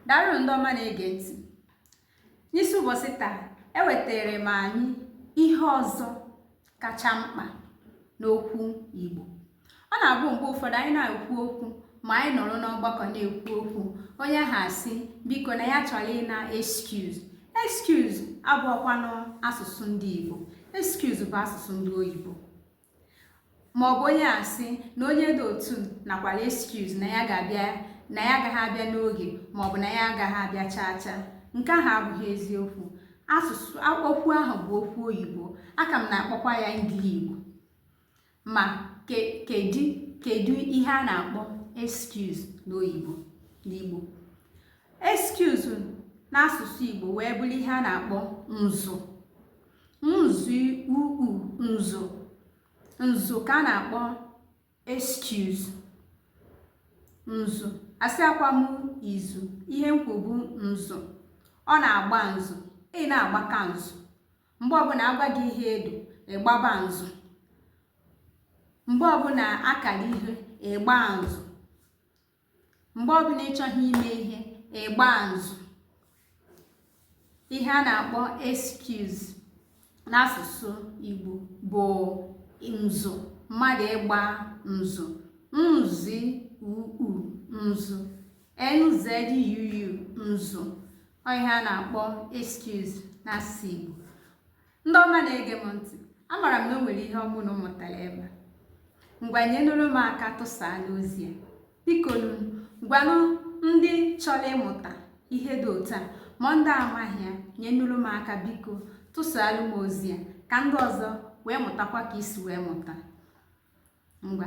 daalụ ndị ọma na-ege ntị n'isi ụbọchị taa ewetara m anyị ihe ọzọ kacha mkpa n'okwu Igbo ọ na-abụ mgbe ụfọdụ anyị na-ekwu okwu ma anyị nọrọ n'ọgbakọ na-ekwu okwu onye ha asị biko na ya chọrọ ịna excuse excuse abụọkwanụ asụsụ ndị Igbo excuse bụ asụsụ ndị oyibo ma ọ bụ onye asị na onye dị otu nakwara excuse na ya ga-abịa na ya agaghị abịa n'oge ma ọ bụ na ya agaghị abịa chaa chaa nke ahụ abụghị eziokwu asụsụ okwu ahụ bụ okwu oyibo a ka m na-akpọkwa ya ngili igbo ma kedu kedu ihe a na-akpọ excuse n'oyibo n'igbo excuse n'asụsụ igbo wee bụrụ ihe a na-akpọ nzu nzu uu nzu nzu ka a na-akpọ excuse nzu asịakwa m izu ihe m kwu bụ nzu ọ na-agba nzu ị na-agbaka nzu mgbe ọbụla a gwa gị ihe edo ị gbaba nzu mgbe ọbụla a kara ihe ị gbaa nzu mgbe ọbụla ị chọghị ime ihe ị gbaa nzu ihe a na-akpọ excuse n'asụsụ Igbo bụ nzu mmadụ ịgba nzu nzi uu nzu nzuu nzu ọ ihe a na-akpọ excuse n'asụsụ Igbo ndị ọma na-ege m ntị amara m na o nwere ihe ọ bụ unu mụtara ebe a ngwa nyenụrụ m aka tụsaanụ ozi a biko gwanụ ndị chọrọ ịmụta ihe dị otu a ma ndị amaghị ya nyenụrụ m aka biko tụsaalụ m ozi a ka ndị ọzọ wee mụtakwa ka i si wee mụta ngwa